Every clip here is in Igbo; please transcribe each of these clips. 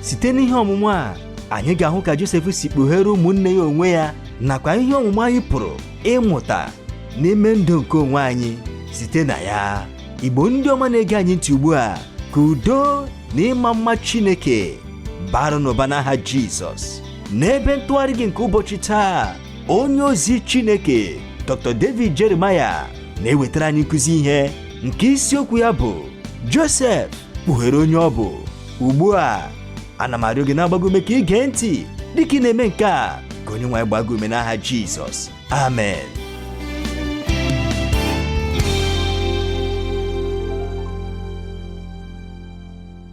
site n'ihe ọmụmụ a anyị ga-ahụ ka Josef si kpughere ụmụnne ya onwe ya nakwa ihe ọmụmụ anyị pụrụ ịmụta n'ime ndụ nke onwe anyị site na ya igbo ndị ọma na-ege anyị ntị ugbu a ka udo na ịma mma chineke baara unu ụba n'aha jizọs n'ebe ntụgharị gị nke ụbọchị taa onye ozi chineke dr david jeremiah na-ewetara anyị nkụzi ihe nke isiokwu ya bụ Josef kpughere onye ọ bụ ugbu a ana m arịọ gị na-agba gị ume ka ị gee ntị dịka ị na-eme nke a ka onye nwe anyị gbaa gị ume n'aha Jizọs amen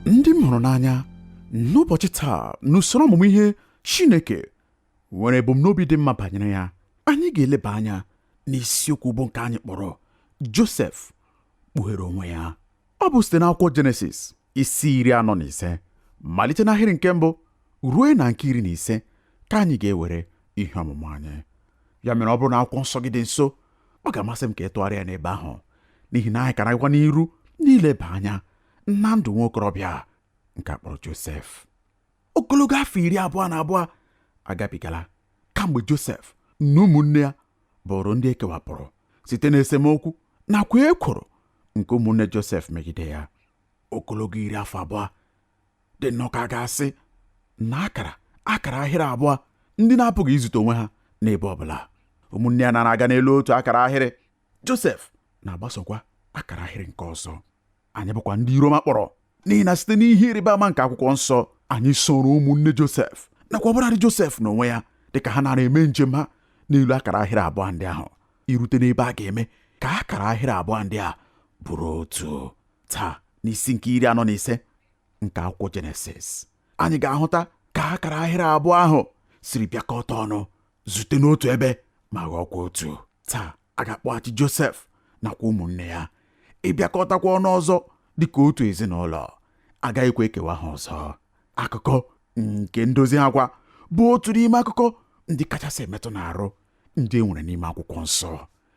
ndị m hụrụ n'anya n'ụbọchị taa n'usoro ọmụmụ ihe Chineke nwere ebumnobi dị mma banyere ya anyị ga-eleba anya n'isiokwu bụ nke anyị kpọrọ Josef kpughere onwe ya ọ bụ site n'akwụkwọ Jenesis isi iri anọ na ise malite n'ahịrị nke mbụ ruo na nke iri na ise ka anyị ga-ewere ihe ọmụmụ anyị ya mere ọ bụrụ na akwụkwọ nsọ gị dị nso ọ ga-amasị m ka ị tụgharịa ya n'ebe ahụ n'ihi na anyị ka na-agakwa n'iru n'ileba anya na ndụ nwa okorobịa nke a kpọrọ Josef ogologo afọ iri abụọ na abụọ agabigala kamgbe Josef na ụmụnne ya bụrụ ndị e kewapụrụ site n'esemokwu nakwa ekworo nke ụmụnne Josef megide ya ogologo iri afọ abụọ dị nnọọ ka a ga-asị na a kara akara ahịrị abụọ ndị na-apụghị izute onwe ha n'ebe ọ bụla ụmụnne ya na-aga n'elu otu akara ahịrị Josef na-agbasokwa akara ahịrị nke ọzọ anyị bụkwa ndị iru ọma kpọrọ n'ihi na site n'ihe ịrịba ama nke akwụkwọ nsọ anyị soro ụmụnne Josef nakwa ọbụladị Josef n'onwe ya dịka ha nara eme njem ha n'elu akara ahịrị abụọ ndị ahụ irute n'ebe a ga-eme ka akara ahịrị abụọ ndị a bụrụ otu taa n'isi nke iri anọ na ise nke akwụkwọ jenesis anyị ga-ahụta ka akara ahịrị abụọ ahụ siri bịakọta ọnụ zute n'otu ebe ma ghọọkwa otu taa a ga-akpọghachi Josef nakwa ụmụnne ya ịbịakọtakwa ọnụ ọzọ dị ka otu ezinụlọ agaghịkwa ekewa ha ọzọ akụkọ nke ndozi ha kwa bụ otu n'ime akụkọ ndị kachasị emetụ n'arụ ndị e nwere n'ime akwụkwọ nsọ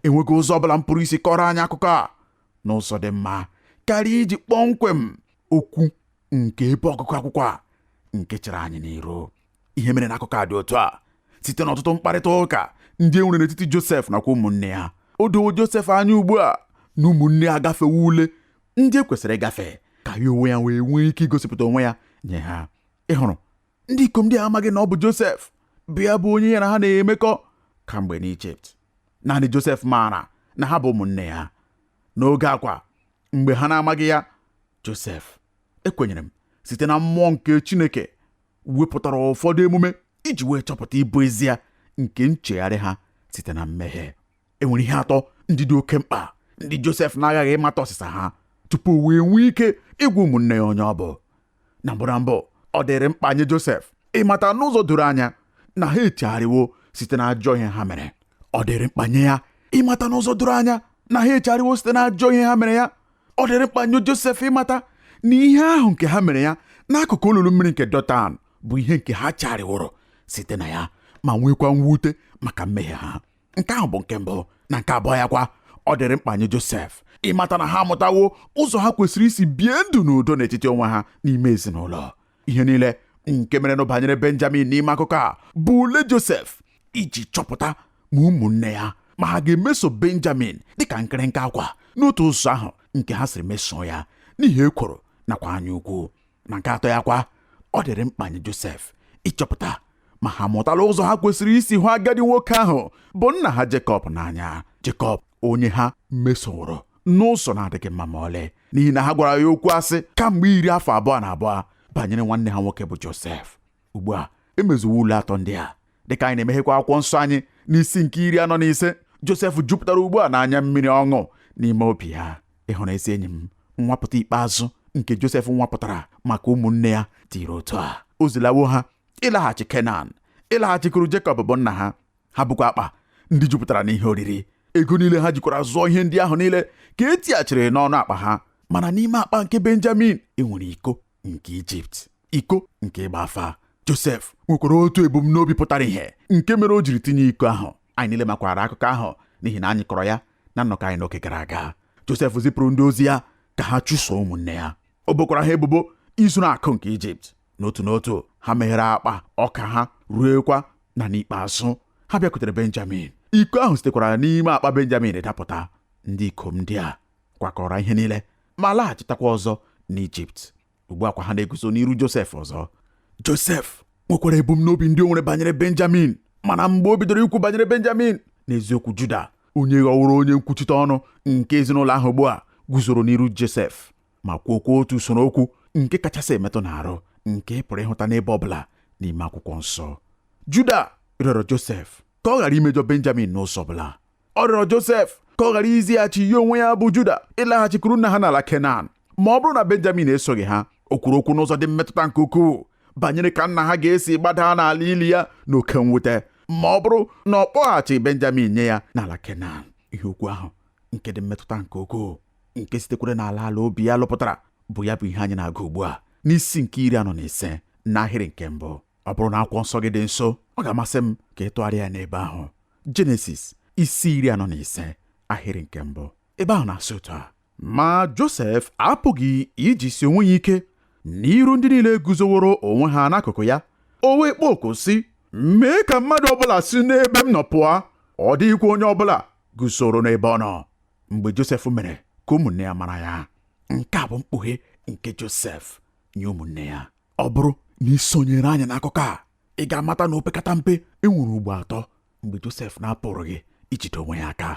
enweghị ụzọ ọbụla m pụrụ isi kọrọ anyị akụkọ a n'ụzọ dị mma karịa iji kpọmkwem okwu nke ebe ọgụgụ akwụkwọ a nke chere anyị n'iru ihe mere na akụkọ a dị otu a site n'ọtụtụ mkparịta ụka ndị e nwere n'etiti Josef nakwa ụmụnne ya o dowo Josef anya ugbu a na ụmụnne ya agafewo ule ndị e kwesịrị ịgafe ka ya onwe ya wee nwee ike igosipụta onwe ya nye ha ị hụrụ ndị ikom ndị a amaghị na ọ bụ Josef bụ ya bụ onye ya na ha na-emekọ kamgbe n'Ijipt naanị Josef maara na ha bụ ụmụnne ya n'oge a kwa mgbe ha na-amaghị ya Josef ekwenyere m site na mmụọ nke Chineke wepụtara ụfọdụ emume iji wee chọpụta ịbụ ezie nke nchegharị ha site na mmehie e nwere ihe atọ ndị dị oke mkpa ndị Josef na-aghaghị ịmata ọsịsa ha tupu o wee nwee ike ịgwa ụmụnne ya onye ọ bụ na mbụ na mbụ ọ dịrị mkpa nye Josef ịmata n'ụzọ doro anya na ha echegharịwo site na ajọ ihe ha mere ọ dịrị mkpa nye ya ịmata n'ụzọ doro anya na ha echegharịwo site na ajọ ihe ha mere ya ọ dịrị mkpa nye Josef ịmata na ihe ahụ nke ha mere ya n'akụkụ olulu mmiri nke Dọtan bụ ihe nke ha chegharịworo site na ya ma nwekwa mwute maka mmehie ha nke ahụ bụ nke mbụ na nke abụọ ya kwa ọ dịrị mkpa nye Josef ịmata na ha amụtawo ụzọ ha kwesịrị isi bie ndụ n'udo n'etiti onwe ha n'ime ezinụlọ ihe niile nke merenụ banyere benjamin n'ime akụkọ a bụ ule josef iji chọpụta ma ụmụnne ya ma ha ga-emeso benjamin dịka nkịrịnka akwa n'otu ụzọ ahụ nke ha siri mesoo ya n'ihi ekworo nakwa anya ukwu na nke atọ ya kwa ọ dịrị mkpa nye josef ịchọpụta ma ha amụtala ụzọ ha kwesịrị isi hụ agadi nwoke ahụ bụ nna ha Jekọb n'anya Jekọb onye ha mesoworo n'ụzọ na-adịghị mma ma ọlị n'ihi na ha gwara ya okwu asị kamgbe iri afọ abụọ na abụọ banyere nwanne ha nwoke bụ Josef ugbu a e mezuwo ule atọ ndị a dịka anyị na-emeghekwa akwụkwọ nsọ anyị n'isi nke iri anọ na ise Josef jupụtara ugbu a n'anya mmiri ọṅụ n'ime obi ya ị hụrụ ezi enyi m nwapụta ikpeazụ nke Josef nwapụtara maka ụmụnne ya tiri otu a o zilawo ha ịlaghachi Kenan ịlaghachikuru Jekọb bụ nna ha ha bukwa akpa ndị jupụtara n'ihe oriri ego niile ha jikwara zụọ ihe ndị ahụ niile ka e tighachiri n'ọnụ akpa ha mana n'ime akpa nke benjamin e nwere iko nke ijipt iko nke ịgba afa josef nwekwara otu ebumnobi pụtara ihe nke mere o jiri tinye iko ahụ anyị niile makwara akụkọ ahụ n'ihi na anyị kọrọ ya na nnọkọ anyị n'oge gara aga josef zipụrụ ndị ozi ya ka ha chụso ụmụnne ya o bokwara ha ebubo izuru akụ nke ijipt n'otu n'otu ha meghere akpa ọka ha ruekwa na n'ikpeazụ ha bịakwutere benjamin iko ahụ sitekwara n'ime akpa benjamin dapụta ndị ikom ndị a kwakọrọ ihe niile ma laghachitakwa ọzọ n'ijipt ugbu a kwa ha na-eguzo n'iru josef ọzọ josef nwekwara ebumnobi ndị o nwere banyere benjamin mana mgbe o bidoro ikwu banyere benjamin n'eziokwu juda onye ghọworo onye nkwuchite ọnụ nke ezinụlọ ahụ ugbu a guzoro n'iru josef ma kwuokwa otu usoro okwu nke kachasị emetụ n'arụ nke ị pụrụ ịhụta n'ebe ọ bụla n'ime akwụkwọ nsọ Juda rịọrọ Josef ka ọ ghara imejọ Benjamin n'ụzọ ọ bụla ọ rịọrọ Josef ka ọ ghara izighachi ya onwe ya bụ Juda ịlaghachikuru nna ha n'ala Kenan ma ọ bụrụ na Benjamin esoghị ha o kwuru okwu n'ụzọ dị mmetụta nke ukwuu banyere ka nna ha ga-esi gbada n'ala ili ya n'oke mwute ma ọ bụrụ na ọ kpọghachi Benjamin nye ya n'ala Kenan ihe okwu ahụ nke dị mmetụta nke ukwuu nke sitekwara n'ala ala obi ya lụpụtara bụ ya bụ ihe anyị na-agụ ugbu a n'isi nke iri anọ na ise n'ahịrị nke mbụ ọ bụrụ na akwụkwọ nsọ gị dị nso ọ ga-amasị m ka ị tụgharịa ya n'ebe ahụ jenesis isi iri anọ na ise ahịrị nke mbụ ebe ahụ na-asị otu a ma josef apụghị ijisi onwe ya ike n'iru ndị niile guzoworo onwe ha n'akụkụ ya o wee kpọọ oku sị mee ka mmadụ ọbụla si n'ebe m nọ pụa ọ dịghịkwa onye ọbụla guzoro n'ebe ọ nọ mgbe Josef mere ka ụmụnne ya mara ya nke a bụ mkpughe nke Josef nye ụmụnne ya ọ bụrụ na ị sonyere anyị n'akụkọ a ị ga-amata na opekata mpe e nwere ugbo atọ mgbe Josef na-apụrụghị ijide onwe ya aka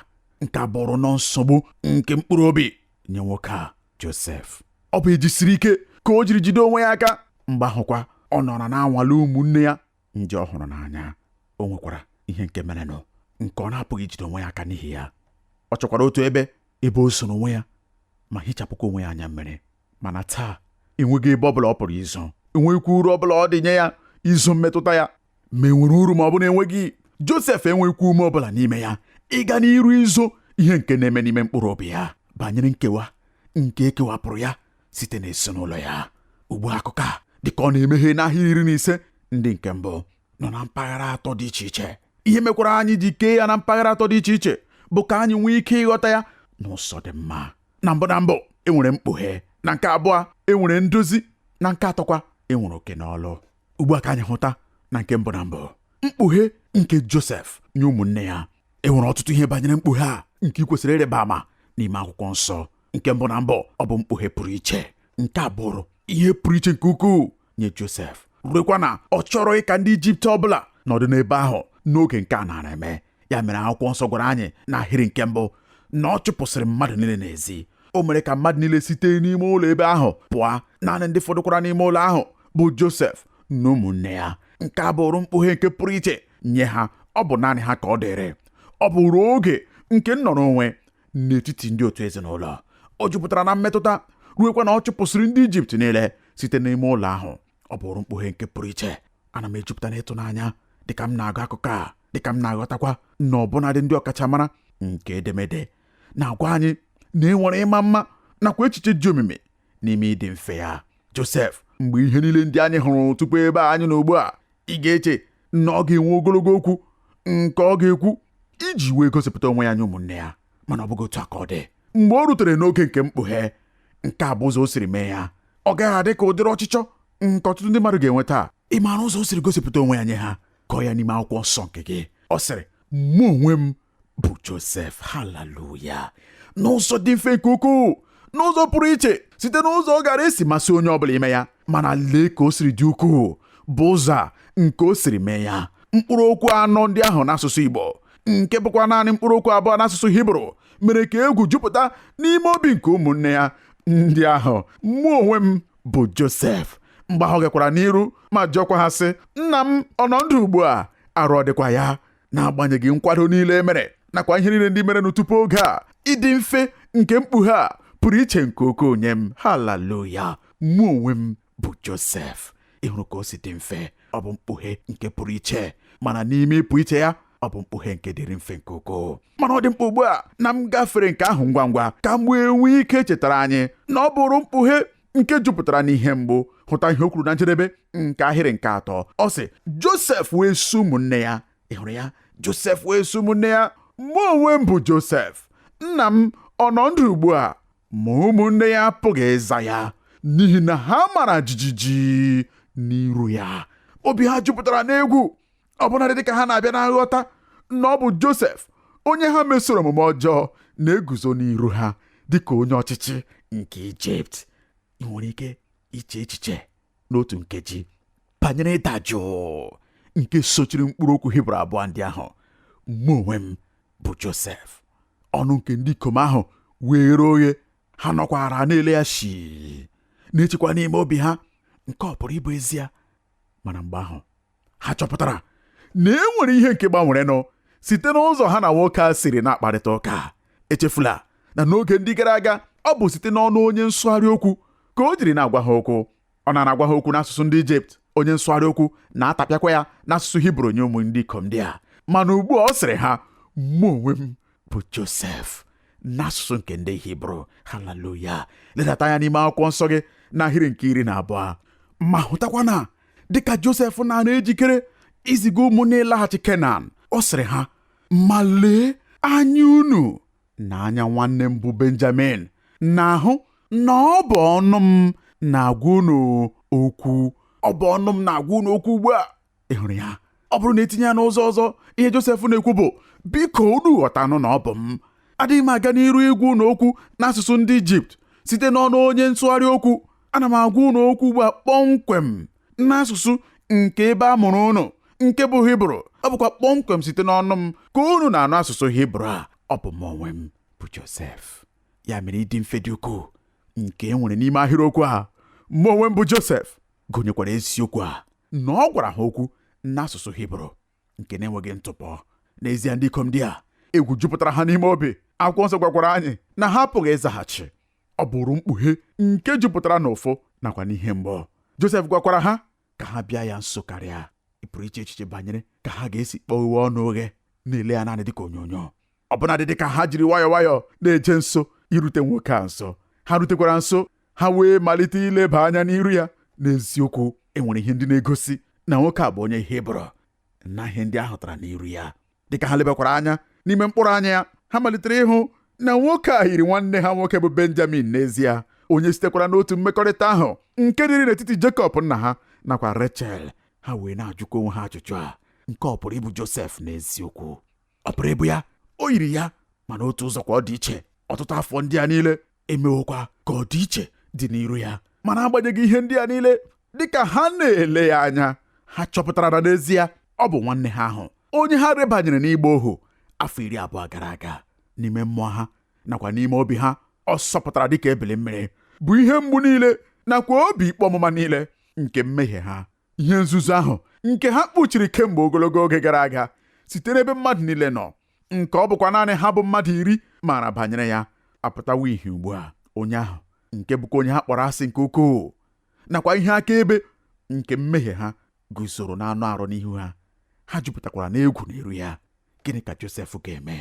nke a bụụrụ nnọọ nsogbu nke mkpụrụ obi nye nwoke a Josef ọ bụ ejisiri ike ka o jiri jide onwe ya aka mgbe ahụkwa ọ nọrọ na-anwale ụmụnne ya ndị ọ hụrụ n'anya o nwekwara ihe nke merenụ nke ọ na-apụghị ijide onwe ya aka n'ihi ya ọ chọkwara otu ebe ebe o zoro onwe ya ma hichapụkwa onwe ya anya mmiri mana taa enweghị ebe ọ bụla ọ pụrụ izo enweghịkwa uru ọ bụla ọ dị nye ya izo mmetụta ya ma enwere uru ma ọ bụ na enweghị Josef enweghịkwa ume ọ bụla n'ime ya ịga n'iru izo ihe nke na-eme n'ime mkpụrụ obi ya banyere nkewa nke ekewapụrụ ya site n'ezinụlọ ya ugbu a akụkọ a dịka ọ na-emeghe n'ahịrị iri na ise ndị nke mbụ nọ na mpaghara atọ dị iche iche ihe mekwara anyị ji kee ya na mpaghara atọ dị iche iche bụ ka anyị nwee ike ịghọta ya n'ụzọ dị mma na mbụ na mbụ enwere mkpughe na nke abụọ enwere ndozi na nke atọkwa enwere oke n'ọlụ ugbu a ka anyị hụta na nke mbụ na mbụ mkpughe nke Josef nye ụmụnne ya e nwere ọtụtụ ihe banyere mkpughe a nke ị kwesịrị ịrịba ama n'ime akwụkwọ nsọ nke mbụ na mbụ ọ bụ mkpughe pụrụ iche nke a bụụrụ ihe pụrụ iche nke ukwuu nye Josef ruekwa na ọ chọrọghị ka ndị Ijipt ọbụla nọdụ n'ebe ahụ n'oge nke a naara eme ya mere akwụkwọ nsọ gwara anyị n'ahịrị nke mbụ na ọ chụpụsịrị mmadụ niile n'ezi o mere ka mmadụ niile site n'ime ụlọ ebe ahụ pụa naanị ndị fọdụkwara n'ime ụlọ ahụ bụ Josef na ụmụnne ya nke a bụụrụ mkpughe nke pụrụ iche nye ha ọ bụ naanị ha ka ọ dịịrị ọ bụụrụ oge nke nnọrọ onwe n'etiti ndị otu ezinụlọ o jupụtara na mmetụta ruekwa na ọ chụpụsịrị ndị Ijipt niile site n'ime ụlọ ahụ ọ bụrụ mkpughe nke pụrụ iche ana m ejupụta n'ịtụnanya dịka m na-agụ akụkọ a dịka m na-aghọtakwa na ọbụnadị ndị ọkachamara nke edemede na-agwa anyị na e nwere ịma mma nakwa echiche dị omimi n'ime ịdị mfe ya Josef mgbe ihe niile ndị anyị hụrụ tupu ebe a anyị nọ ugbu a ị ga-eche na ọ ga-enwe ogologo okwu nke ọ ga-ekwu iji wee gosipụta onwe ya nye ụmụnne ya mana ọ bụghị otu a ka ọ dị mgbe o rutere n'oge nke mkpughe nke a bụ ụzọ o siri mee ya ọ gaghị adị ka ụdịrị ọchịchọ nke ọtụtụ ndị mmadụ ga-enwe taa ị maara ụzọ o siri gosipụta onwe ya nye ha kọọ ya n'ime akwụkwọ nsọ nke gị ọ sịrị mụ onwe m bụ Josef haleluya n'ụzọ dị mfe nke ukwuu n'ụzọ pụrụ iche site n'ụzọ ọ gara esi masị onye ọbụla ime ya mana lee ka o siri dị ukwuu bụ ụzọ a nke o siri mee ya mkpụrụ okwu anọ ndị ahụ n'asụsụ Igbo nke bụkwa naanị mkpụrụ okwu abụọ n'asụsụ hibru mere ka egwu jupụta n'ime obi nke ụmụnne ya ndị ahụ mụ onwe m bụ josef mgbe ahụ ọ gakwara n'iru ma jụọkwa ha sị nna m ọ nọ ndụ ugbu a arụ ọ dịkwa ya n'agbanyeghị nkwado niile e mere nakwa ihe niile ndị merenụ tupu oge a ịdị mfe nke mkpughe a pụrụ iche nke ukwuu nye m haleluya mụ onwe m bụ Josef ị hụrụ ka o si dị mfe ọ bụ mkpughe nke pụrụ iche mana n'ime ịpụ iche ya ọ bụ mkpughe nke dịrị mfe nke ukwuu mana ọ dị mkpa ugbu a na m gafere nke ahụ ngwa ngwa ka m wee nwee ike chetara anyị na ọ bụrụ mkpughe nke jupụtara n'ihe mgbu hụta ihe o kwuru na njedebe nke ahịrị nke atọ ọ sị Josef wee sị ụmụnne ya ị hụrụ ya Josef wee sị ụmụnne ya mụ onwe m bụ Josef nna m ọ nọ ndụ ugbu a Ma ụmụnne ya apụghị ịza ya n'ihi na ha mara jijiji n'iru ya. Obi ha jupụtara n'egwu ọbụnadị dịka ha na-abịa na nghọta na ọ bụ Josef onye ha mesoro omume ọjọọ na-eguzo n'iru ha dịka onye ọchịchị nke Ijipt. Ị nwere ike iche echiche n'otu nkeji banyere ịda jụụ nke sochiri mkpụrụ okwu hibru abụọ ndị ahụ mụ onwe m bụ josef ọnụ nke ndị ikom ahụ were oghe ha nọkwara na-ele ya shii na-echekwa n'ime obi ha nke ọ pụrụ ịbụ ezie mana mgbe ahụ ha chọpụtara na e nwere ihe nke gbanwerenụ site n'ụzọ ha na nwoke a siri na-akparịta ụka echefula na n'oge ndị gara aga ọ bụ site n'ọnụ onye nsụgharị okwu ka o jiri na-agwa ha okwu ọ na-agwa ha okwu n'asụsụ ndị ijipt onye nsụgharị okwu na-atapịakwa ya n'asụsụ hibru nye ụmụ ndị ikom ndị a mana ugbu a ọ sịrị ha mụ onwe m bụ josef n'asụsụ nke ndị hibru haleluya ledata anya n'ime akwụkwọ nsọ gị n'ahịrị nke iri na abụọ ma hụtakwa na dịka Josef nara ejikere iziga ụmụnne ya ịlaghachi Kenan ọ sịrị ha ma lee anya unu na anya nwanne m bụ Benjamin na-ahụ na ọ bụ ọnụ m na-agwa unu okwu ọ bụ ọnụ m na-agwa unu okwu ugbu a ị hụrụ ya ọ bụrụ na etinye ya n'ụzọ ọzọ ihe Josef na-ekwu bụ biko unu ghọtanụ na ọ bụ m adịghị m aga n'iru ịgwa unu okwu n'asụsụ ndị Ijipt site n'ọnụ onye nsụgharị okwu ana m agwa unu okwu ugbu a kpọmkwem n'asụsụ nke ebe a mụrụ unu nke bụ hibru ọ bụkwa kpọmkwem site n'ọnụ m ka unu na-anụ asụsụ hibru a ọ bụ mụ onwe m bụ Josef ya mere ịdị mfe dị ukwuu nke e nwere n'ime ahịrịokwu a mụ onwe m bụ Josef gụnyekwara eziokwu a na ọ gwara ha okwu n'asụsụ hibru nke na-enweghị ntụpọ n'ezie ndị ikom ndị a egwu jupụtara ha n'ime obi akwụkwọ nsọ gwakwara anyị na ha apụghị ịzaghachi ọ bụụrụ mkpughe nke jupụtara n'ụfụ nakwa n'ihe mgbu Josef gwakwara ha ka ha bịa ya nso karịa ị pụrụ iche echiche banyere ka ha ga-esi kpọghewe ọnụ oghe na-ele ya naanị dịka onyonyo ọbụnadị dị ka ha jiri nwayọọ nwayọọ na-eje nso irute nwoke a nso ha rutekwara nso ha wee malite ileba anya n'iru ya n'eziokwu enwere ihe ndị na-egosi na nwoke a bụ onye Hibru na ihe ndị a hụtara n'iru ya dịka ha lebakwara anya n'ime mkpụrụ anya ya ha malitere ịhụ na nwoke a yiri nwanne ha nwoke bụ Benjamin n'ezie onye sitekwara n'otu mmekọrịta ahụ nke dịrị n'etiti Jekọb nna ha nakwa Rechel ha wee na-ajụkwa onwe ha ajụjụ a nke a ọ pụrụ ịbụ Josef n'eziokwu ọ pụrụ ịbụ ya o yiri ya mana otu ụzọ kwa ọ dị iche ọtụtụ afọ ndị a niile emewokwa ka ọ dị iche dị n'iru ya mana agbanyeghị ihe ndị a niile dịka ha na-ele ya anya ha chọpụtara na n'ezie ọ bụ nwanne ha ahụ onye ha rebanyere n'ịgba ohu afọ iri abụọ gara aga n'ime mmụọ ha nakwa n'ime obi ha ọ sọpụtara dịka ebili mmiri bụ ihe mgbu niile nakwa obi ikpe ọmụma niile nke mmehie ha ihe nzuzo ahụ nke ha kpuchiri kemgbe ogologo oge gara aga site n'ebe mmadụ niile nọ nke ọ bụkwa naanị ha bụ mmadụ iri maara banyere ya apụtawo ihe ugbu a onye ahụ nke bụkwa onye ha kpọrọ asị nke ukwuu nakwa ihe akaebe nke mmehie ha guzoro n'anụ arụ n'ihu ha ha jupụtakwara n'egwu n'iru ya gịnị ka Josef ga-eme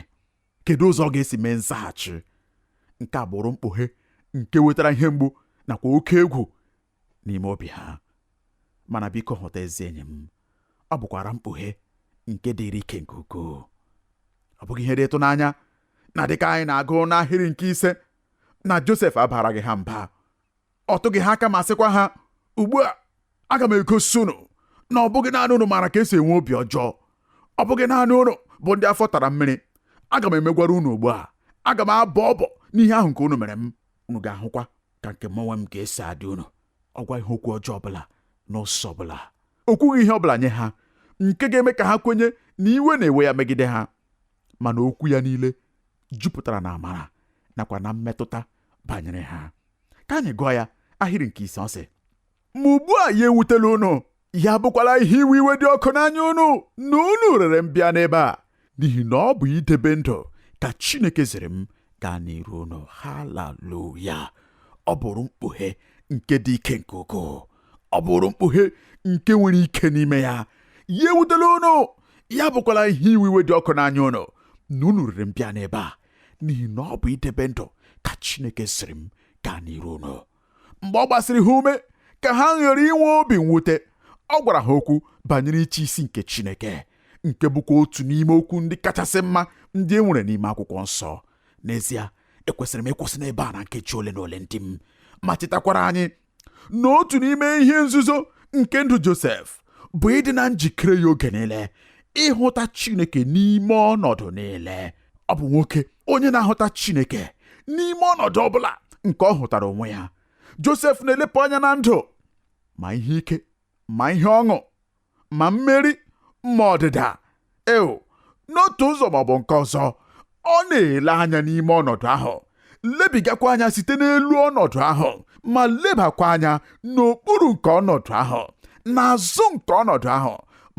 kedu ụzọ ọ ga-esi mee nzaghachi nke a bụrụ mkpughe nke wetara ihe mgbu nakwa oke egwu n'ime obi ha mana biko hụta ezi enyi m ọ bụkwara mkpughe nke dịrị ike nke ukwuu ọ bụghị ihe dị ịtụnanya na dịka anyị na-agụ n'ahịrị nke ise na Josef abaraghị ha mba ọ tụghị ha aka ma sịkwa ha ugbu a aga m egosi unu na ọ bụghị naanị unu maara ka esi enwe obi ọjọọ ọ bụghị naanị unu bụ ndị afọ tara mmiri aga m emegwara unu ugbu a aga m abọ ọbọ n'ihe ahụ nke unu mere m unu ga-ahụkwa ka nke m onwe m ga-esi adị unu ọ gwaghị ha okwu ọjọọ ọbụla n'ụzọ ọbụla o kwughị ihe ọbụla nye ha nke ga-eme ka ha kwenye na iwe na-ewe ya megide ha mana okwu ya niile jupụtara na amara nakwa na mmetụta banyere ha ka anyị gụọ ya ahịrị nke ise ọ sị Ma ugbu a ya ewutela unu, ya abụkwala ihe iwe iwe dị ọkụ n'anya unu na unu rere m bịa n'ebe a, n'ihi na ọ bụ idebe ndụ ka Chineke ziri m gaa n'iru unu. Haleluya! Ọ bụrụ mkpughe nke dị ike nke ukwuu. Ọ bụrụ mkpughe nke nwere ike n'ime ya. Ya ewutela unu, ya bụkwala ihe iwe iwe dị ọkụ n'anya unu na unu rere m bịa n'ebe a, n'ihi na ọ bụ idebe ndụ ka Chineke ziri m gaa n'iru unu. mgbe ọ gbasịrị ha ume ka ha ghara inwe obi mwute ọ gwara ha okwu banyere ịchị isi nke Chineke nke bụkwa otu n'ime okwu ndị kachasị mma ndị e nwere n'ime akwụkwọ nsọ n'ezie ekwesịrị m ịkwụsị n'ebe a na nkeji ole na ole ndị m ma chetakwara anyị na otu n'ime ihe nzuzo nke ndụ Josef bụ ịdị na njikere ya oge niile ịhụta Chineke n'ime ọnọdụ niile ọ bụ nwoke onye na-ahụta Chineke n'ime ọnọdụ ọ bụla nke ọ hụtara onwe ya Josef na-elepụ anya na ndụ ma ihe ike ma ihe ọṅụ ma mmeri ma ọdịda ewo n'otu ụzọ ma ọ bụ nke ọzọ ọ na-ele anya n'ime ọnọdụ ahụ lebigakwa anya site n'elu ọnọdụ ahụ ma lebakwa anya n'okpuru nke ọnọdụ ahụ n'azụ nke ọnọdụ ahụ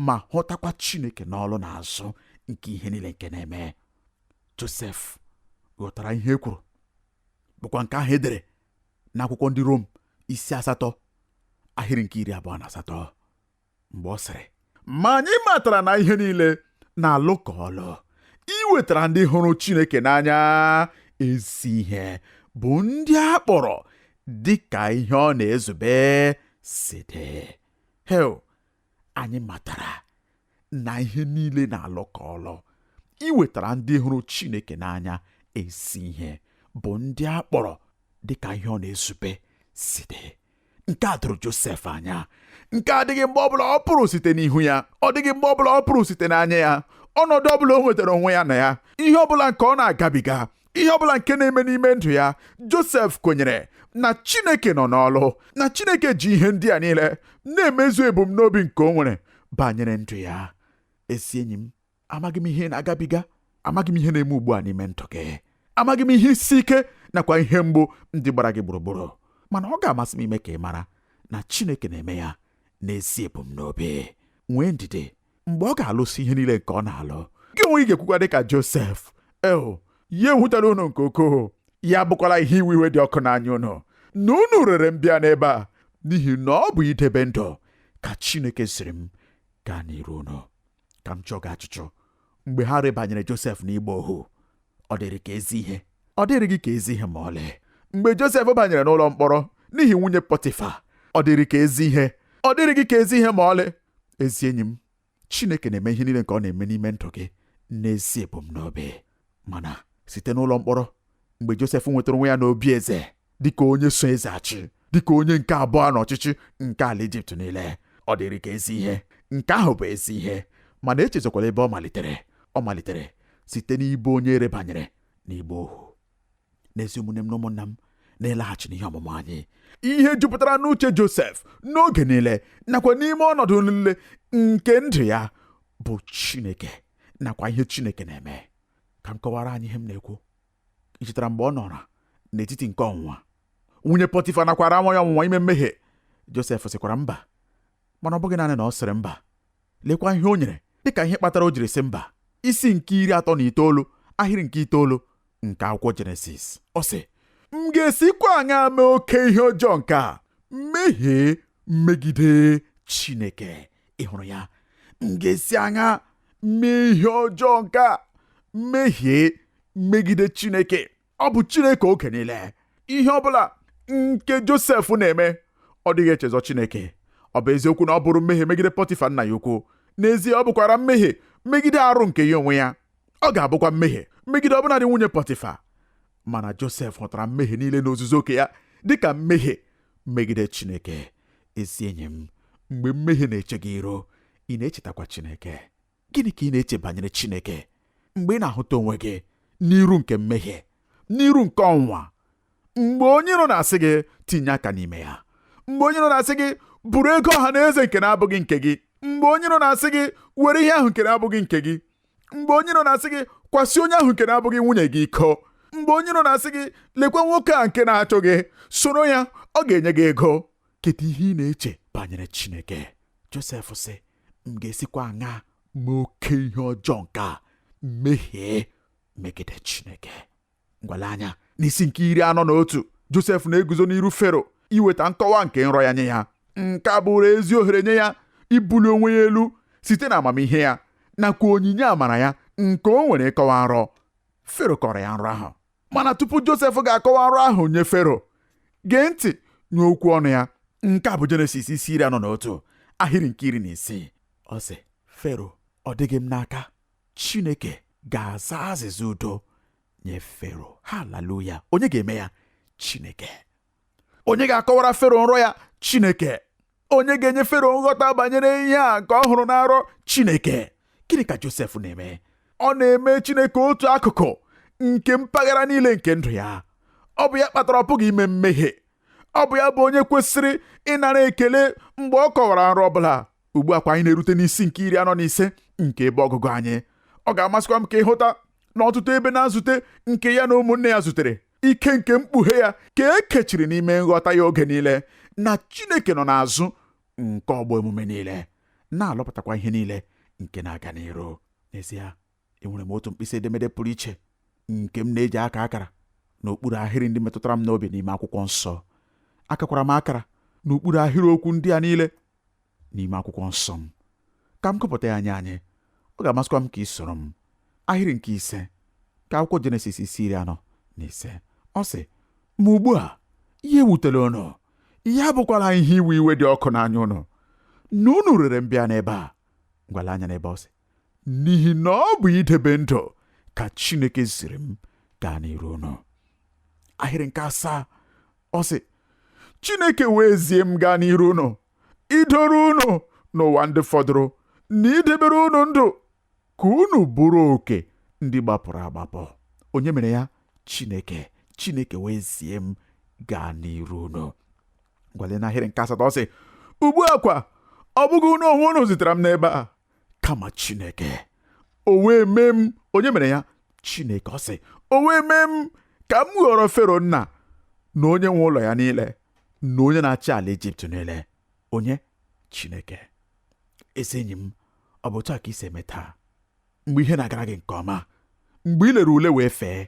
ma hụtakwa Chineke n'ọlụ n'azụ nke ihe niile nke na-eme Josef ghọtara ihe e kwuru bụkwa nke ahụ edere n'akwụkwọ ndị Rom isi asatọ ahịrị nke iri abụọ na asatọ mgbe ọ sịrị ma anyị matara na ihe niile na-alụkọ ọlụ iwetara ndị hụrụ Chineke n'anya ezi ihe bụ ndị a kpọrọ dị ka ihe ọ na-ezube si dị ewo anyị matara na ihe niile na-alụkọ ọlụ iwetara ndị hụrụ Chineke n'anya ezi ihe bụ ndị a kpọrọ dị ka ihe ọ na-ezube si dị nke a doro Josef anya nke adịghị mgbe ọbụla ọ pụrụ site n'ihu ya ọ dịghị mgbe ọbụla ọ pụrụ site n'anya ya ọnọdụ ọbụla o nwetara onwe ya na ya ihe ọbụla nke ọ na-agabiga ihe ọ bụla nke na-eme n'ime ndụ ya Josef kwenyere na Chineke nọ n'ọlụ na Chineke ji ihe ndị a niile na-emezu ebumnobi nke o nwere banyere ndụ ya ezi enyi m amaghị m ihe ị na-agabiga amaghị m ihe na-eme ugbu a n'ime ndụ gị amaghị m ihe isi ike nakwa ihe mgbu ndị gbara gị gburugburu mana ọ ga-amasị m ime ka ị mara na Chineke na-eme ya n'ezi ebumnobi nwee ndidi mgbe ọ ga-alụsị ihe niile nke ọ na-alụ gị onwe gị ga-ekwukwa dị ka Josef eo ya ewutala unu nke ukwuu ya abụkwala ihe iwe iwe dị ọkụ n'anya unu na unu rere m bịa n'ebe a n'ihi na ọ bụ idebe ndụ ka Chineke ziri m gaa n'iru unu ka m jụọ gị ajụjụ mgbe ha rebanyere Josef n'ịgba ohu ọ dịrị ka ezi ihe ọ dịrịghị ka ezi ihe ma ọlị mgbe Josef banyere n'ụlọ mkpọrọ n'ihi nwunye Pọtịfa ọ dịrị ka ezi ihe ọ dịrịghị ka ezi ihe ma ọlị ezi enyi m chineke na-eme ihe niile nke ọ na-eme n'ime ndụ gị n'ezi ebumnobi mana site n'ụlọ mkpọrọ mgbe josef nwetara onwe ya n'obi eze dịka onye so eze achị dịka onye nke abụọ n'ọchịchị nke ala ijipt niile ọ dịrị ka ezi ihe nke ahụ bụ ezi ihe mana echezokwala ebe ọ malitere ọ malitere site n'ịbụ onye erebanyere n'ịgba ohu n'ezi ụmụnne m na ụmụnna m n'ịlaghachi n'ihe ọmụmụ anyị ihe jupụtara n'uche Josef n'oge niile nakwa n'ime ọnọdụ niile nke ndụ ya bụ Chineke nakwa ihe Chineke na-eme ka m kọwara anyị ihe m na-ekwu i chetara mgbe ọ nọrọ n'etiti nke ọnwụnwa nwunye Pọtịfa nakwara anwa ya ọnwụnwa ime mmehie Josef sịkwara mba mana ọ bụghị naanị na ọ sịrị mba Lekwa ihe o nyere dịka ihe kpatara o jiri sị mba. Isi nke iri atọ na itoolu ahịrị nke itoolu nke akwụkwọ Jenesis. Ọ sị, M ga-esikwa aṅaa mee oke ihe ọjọọ nke a, mehie megide Chineke? Ị hụrụ ya? M ga-esi aṅaa mee ihe ọjọọ nke a, mehie megide Chineke? ọ bụ Chineke oge niile ihe ọ bụla nke Josef na-eme ọ dịghị echezọ Chineke ọ bụ eziokwu na ọ bụrụ mmehie megide Pọtịfa nna ya ukwu n'ezie ọ bụkwara mmehie megide arụ nke ya onwe ya ọ ga-abụkwa mmehie megide ọbụnadị nwunye Pọtịfa mana Josef hụtara mmehie niile n'ozuzu oke ya dịka mmehie megide Chineke ezi enyi m mgbe mmehie na-eche gị iru ị na-echetakwa Chineke Gịnị ka ị na-eche banyere Chineke mgbe ị na-ahụta onwe gị n'iru nke mmehie, n'iru nke ọnwụnwa, mgbe onye iro na-asị gị tinye aka n'ime ya, mgbe onye iro na-asị gị buru ego ọha na eze nke na-abụghị nke gị, mgbe onye iro na-asị gị were ihe ahụ nke na-abụghị nke gị, mgbe onye iro na-asị gị kwasị onye ahụ nke na-abụghị nwunye gị iko mgbe onye iro na-asị gị lekwa nwoke a nke na-achọ gị soro ya ọ ga-enye gị ego kedu ihe ị na-eche banyere Chineke Josef sị m ga-esikwa aṅa mee oke ihe ọjọọ nke a mehie megide Chineke ngwa lee anya n'isi nke iri anọ na otu Josef na-eguzo n'iru Fero iweta nkọwa nke nrọ ya nye ya nke a bụrụ ezi ohere nye ya ibuli onwe ya elu site na amamihe ya nakwa onyinye amara ya nke o nwere ịkọwa nrọ Fero kọrọ ya nrọ ahụ mana tupu josef ga-akọwa ọrụ ahụ nye fero gee ntị nye okwu ọnụ ya nke a bụ jenesis isi iri anọ na otu ahịrị nke iri na isii ọ sị fero ọ dịghị m n'aka chineke ga-aza azịza udo nye fero haleluya onye ga-eme ya chineke onye ga-akọwara fero nrọ ya chineke onye ga-enye fero nghọta banyere ihe a nke ọ hụrụ na nrọ chineke gịnị ka josef na-eme ọ na-eme chineke otu akụkụ nke mpaghara niile nke ndụ ya ọ bụ ya kpatara ọ pụghị ime mmehie ọ bụ ya bụ onye kwesịrị ịnara ekele mgbe ọ kọwara nrọ ọbụla ugbu a kwa anyị na-erute n'isi nke iri anọ na ise nke ebe ọgụgụ anyị ọ ga-amasịkwa m ka ị hụta na ọtụtụ ebe na nzute nke ya na ụmụnne ya zutere ike nke mkpughe ya ka e kechiri n'ime nghọta ya oge niile na Chineke nọ n'azụ nke ọgbọ emume niile na-alụpụtakwa ihe niile nke na-aga n'iru n'ezie enwere m otu mkpịsị edemede pụrụ iche nke m na-eji aka akara n'okpuru ahịrị ndị metụtara m n'obi n'ime akwụkwọ nsọ akakwara m akara n'okpuru ahịrị okwu ndị a niile n'ime akwụkwọ nsọ m ka m gụpụta ya nye anyị ọ ga-amasịkwa m ka ị soro m ahịrị nke ise nke akwụkwọ jenesis isi iri anọ na ise ọ sị ma ugbu a ya ewutela unu ya abụkwala ihe iwe iwe dị ọkụ n'anya unu na unu rere m bịa n'ebe a ngwa lee anya n'ebe ọ sị n'ihi na ọ bụ idebe ndụ ka chineke ziri m gaa n'iru unu ahịrị nke asaa ọ sị Chineke wee zie m gaa n'iru unu idoro unu n'ụwa ndị fọdụrụ na idebere unu ndụ ka unu bụrụ oke ndị gbapụrụ agbapụ onye mere ya Chineke Chineke wee zie m gaa n'iru unu ngwa lee n'ahịrị nke asatọ ọ sị ugbu a kwa ọ bụghị unu onwe unu zitere m n'ebe a kama Chineke o wee mee m onye mere ya Chineke ọ sị o wee mee m ka m ghọrọ Fero nna na onye nwe ụlọ ya niile na onye na-achị ala Ijipt niile onye Chineke ezi enyi m ọ bụ otu a ka i si eme taa mgbe ihe na-agara gị nke ọma mgbe ị lere ule wee fee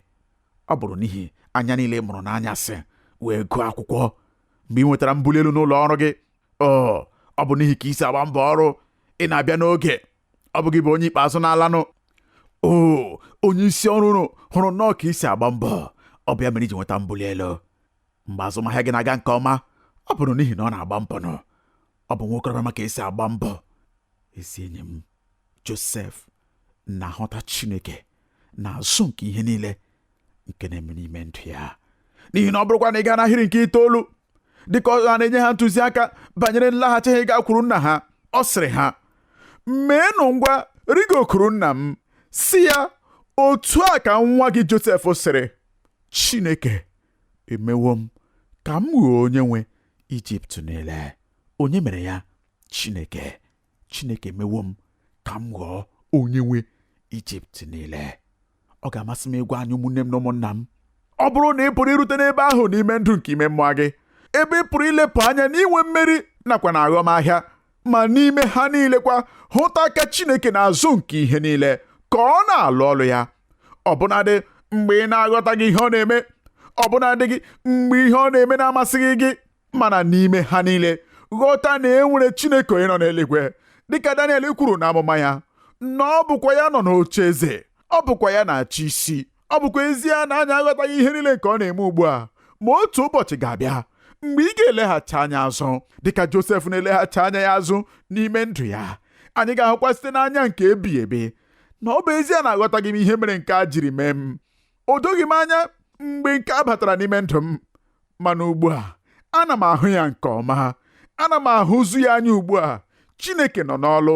ọ bụrụ n'ihi anya niile ị mụrụ n'anyasị wee gụọ akwụkwọ mgbe ị nwetara mbuli elu n'ụlọ ọrụ gị o ọ bụ n'ihi ka i si agba mbọ ọrụ ị na-abịa n'oge ọ bụ gị bụ onye ikpeazụ na-alanụ o onye isi ọrụ unu hụrụ nnọọ ka i si agba mbọ ọ bụ ya mere i ji nweta mbuli elu mgbe azụmahịa gị na-aga nke ọma ọ bụrụ n'ihi na ọ na-agba mbọ nụ ọ bụ nwa okorobịa ma ka e si agba mbọ ezi enyi m Josef na-ahụta Chineke n'azụ nke ihe niile nke na-eme n'ime ndụ ya n'ihi na ọ bụrụkwa na ị gaa n'ahịrị nke itoolu dịka ọ na-enye ha ntụziaka banyere nlaghachi ha ịgakwuru nna ha ọ sịrị ha meenụ ngwa rigokuru nna m sị ya otu a ka nwa gị Josef sịrị Chineke emewo m ka m ghọọ onye nwe Ijipt niile onye mere ya Chineke Chineke emewo m ka m ghọọ onye nwe Ijipt niile ọ ga-amasị m ịgwa anyị ụmụnne m na ụmụnna m ọ bụrụ na ị pụrụ irute n'ebe ahụ n'ime ndụ nke ime mmụọ gị ebe ị pụrụ ilepụ anya n'inwe mmeri nakwa na aghọmahịa ma n'ime ha niile kwa hụta aka Chineke n'azụ nke ihe niile ka ọ na-alụ ọlụ ya ọbụnadị mgbe ị na-aghọtaghị ihe ọ na-eme ọbụnadị gị mgbe ihe ọ na-eme na-amasịghị gị mana n'ime ha niile ghọta na e nwere Chineke onye nọ n'eluigwe dịka Daniel kwuru n'amụma ya na ọ bụkwa ya nọ n'oche eze ọ bụkwa ya na-achị isi ọ bụkwa ezie na anyị aghọtaghị ihe niile nke ọ na-eme ugbu a ma otu ụbọchị ga-abịa mgbe ị ga-eleghachi anya azụ dịka Josef na-eleghachi anya ya azụ n'ime ndụ ya anyị ga-ahụkwa site n'anya nke ebighị ebi na ọ bụ ezie na aghọtaghị m ihe mere nke a jiri mee m o doghị m anya mgbe nke a batara n'ime ndụ m mana ugbu a ana m ahụ ya nke ọma ana m ahụzu ya anya ugbu a Chineke nọ n'ọlụ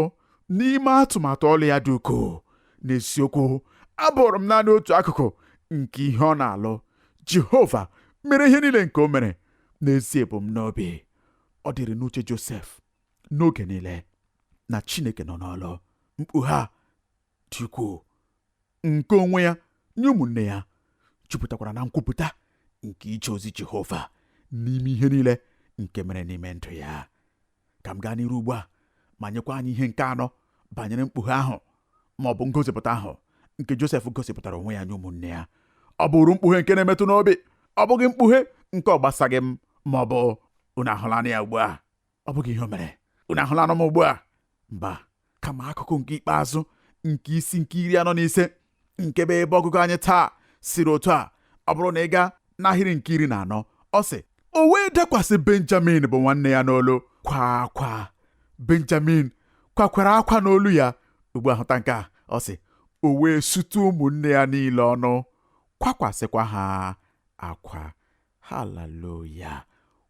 n'ime atụmatụ ọlụ ya dị ukwuu n'eziokwu abụrụ m naanị otu akụkụ nke ihe ọ na-alụ Jehova mere ihe niile nke o mere n'ezi ebumnobi ọ dịrị n'uche Josef n'oge niile na Chineke nọ n'ọlụ mkpughe a dị ukwuu nke onwe ya nye ụmụnne ya jupụtakwara na nkwupụta nke ije ozi Jehova n'ime ihe niile nke mere n'ime ndụ ya ka m gaa n'iru ugbu a ma nyekwa anyị ihe nke anọ banyere mkpughe ahụ ma ọ bụ ngosipụta ahụ nke Josef gosipụtara onwe ya nye ụmụnne ya ọ bụrụ mkpughe nke na-emetụ n'obi ọ bụghị mkpughe nke ọ gbasaghị m ma ọ bụ unu ahụlanụ ya ugbu a ọ bụghị ihe o mere unu ahụlanụ m ugbu a mba kama akụkụ nke ikpeazụ nke isi nke iri anọ na ise nke bụ ebe ọgụgụ anyị taa sịrị otu a ọ bụrụ na ị gaa n'ahịrị nke iri na anọ ọ sị o wee dakwasị benjamin bụ nwanne ya n'olu kwa akwa benjamin kwakwara akwa n'olu ya ugbu a hụta nke a ọ sị o wee sutu ụmụnne ya niile ọnụ kwakwasịkwa ha akwa haleluya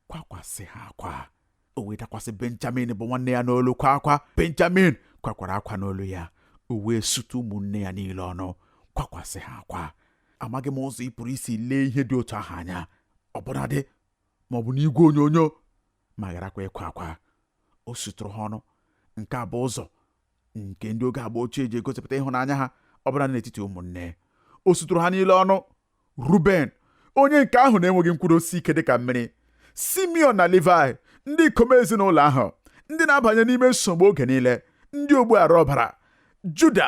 kwakwasị ha akwa o wee dakwasị benjamin bụ nwanne ya n'olu kwa akwa benjamin kwakwara akwa n'olu ya o wee sutu ụmụnne ya niile ọnụ kwakwasị ha akwa amaghị m ụzọ ị pụrụ isi lee ihe dị otu ahụ anya ọbụnadị ma ọ bụ n'igwe onyonyo ma gharakwa ịkwa akwa o sutụrụ ha ọnụ nke a bụ ụzọ nke ndị oge agba ochie ji egosipụta ịhụnanya ha ọbụna n'etiti ụmụnne o sutụrụ ha niile ọnụ ruben onye nke ahụ na-enweghị nkwụdosi ike dịka mmiri simeon na levi ndị ikom ezinụlọ ahụ ndị na-abanye n'ime nsogbu oge niile ndị ogbu ara ọbara juda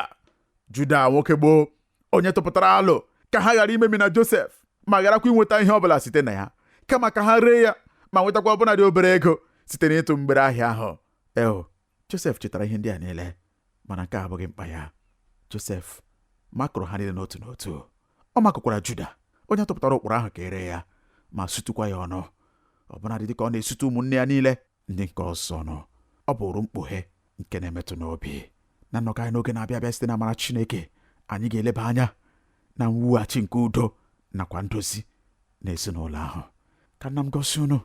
juda nwoke gboo onye tụpụtara alo ka ha ghara imemina josef ma gharakwa inweta ihe ọbụla site na ya kama ka ha ree ya ma nwetakwa ọbụnadị obere ego site n'ịtụ mgbere ahịa ahụ eo Josef chetara ihe ndị a niile mana nke a abụghị mkpa ya Josef makụrụ ha niile n'otu n'otu ọ makụkwara Juda onye tụpụtara ụkpụrụ ahụ ka e ree ya ma sutukwa ya ọnụ ọbụnadị dịka ọ na-esutu ụmụnne ya niile ndị nke ọzọ ọnụ ọ bụrụ mkpughe nke na-emetụ n'obi na nnọkọ anyị n'oge na-abịa abịa site na amara Chineke anyị ga-eleba anya na mwughachi nke udo nakwa ndozi na ezinụlọ ahụ ka nna m gọzie unu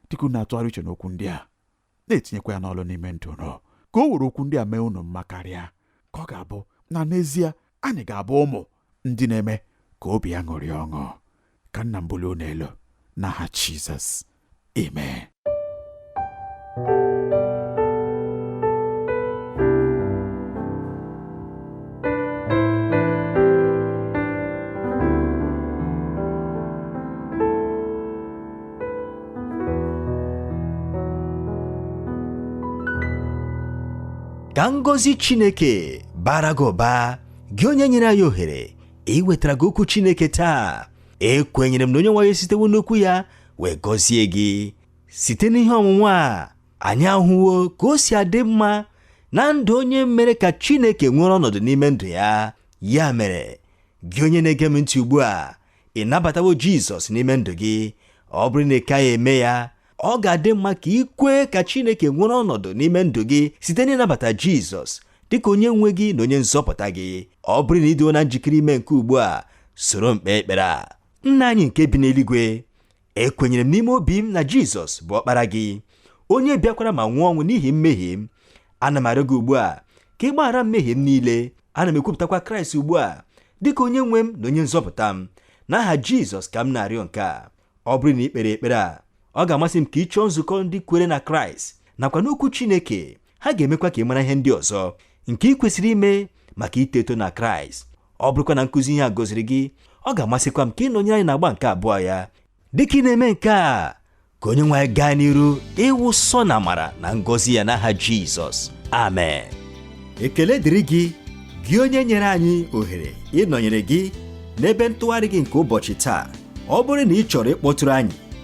dịka unu na-atụgharị uche n'okwu ndị a na-etinyekwa ya n'ọlụ n'ime ndụ unu ka o were okwu ndị a mee unu mma karịa ka ọ ga-abụ na n'ezie anyị ga-abụ ụmụ ndị na-eme ka obi ya ṅụrịa ọṅụ ka nna m bulie unu elu n'aha Jizọs amen ka ngọzi chineke baara gị ụba gị onye nyere anyị ohere iwetara gị okwu chineke taa ekwenyere m na onye nwe anyị sitewo n'okwu ya wee gọzie gị site n'ihe ọmụmụ a anyị ahụwo ka o si adị mma na ndụ onye mere ka chineke nwere ọnọdụ n'ime ndụ ya ya mere gị onye na-ege m ntị ugbu a ị nabatawo Jizọs n'ime ndụ gị ọ bụrụ na ị kaghị eme ya ọ ga-adị mma ka ị kwee ka Chineke nwere ọnọdụ n'ime ndụ gị site n'ịnabata Jizọs dịka onye nwe gị na onye nzọpụta gị ọ bụrụ na ị dịwo na njikere ime nke ugbu a soro m kpee ekpere a nna anyị nke bi n'eluigwe ekwenyere m n'ime obi m na jizọs bụ ọkpara gị onye bịakwara ma nwụọ ọnwụ n'ihi mmehie m ana m arịọ gị ugbu a ka ị gbaghara mmehie m niile ana m ekwupụtakwa kraịst ugbu a dịka onye nwe m na onye nzọpụta m n'aha jizọs ka m na-arịọ nke a ọ bụrụ na ị kpere ekpere a ọ ga-amasị m ka ị chọọ nzukọ ndị kwere na kraịst nakwa n'okwu chineke ha ga-emekwa ka ị mara ihe ndị ọzọ nke ị kwesịrị ime maka ito eto na kraịst ọ bụrụkwa na nkụzi ihe a gọziri gị ọ ga-amasịkwa m ka ị nọnyere anyị n'agba nke abụọ ya dịka ị na-eme nke a ka onye nwe anyị gaa n'iru ịwụsa unu amara na ngọzi ya n'aha jizọs amen ekele dịrị gị gị onye nyere anyị ohere ịnọnyere gị n'ebe ntụgharị gị nke ụbọchị taa ọ bụrụ na ị chọrọ ịkpọtụrụ anyị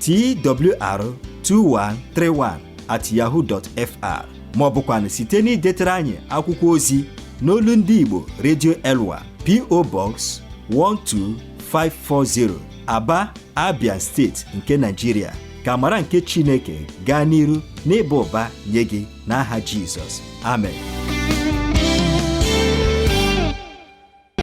twr2131 at yahoo dot fr ma ọ bụkwanụ site n'idetara anyị akwụkwọ ozi n'olu ndị Igbo Radio Elwa PO Box 12540 Aba Abia steeti nke Nigeria ka amara nke Chineke gaa n'iru n'ịba ụba nye gị n'aha Jizọs amen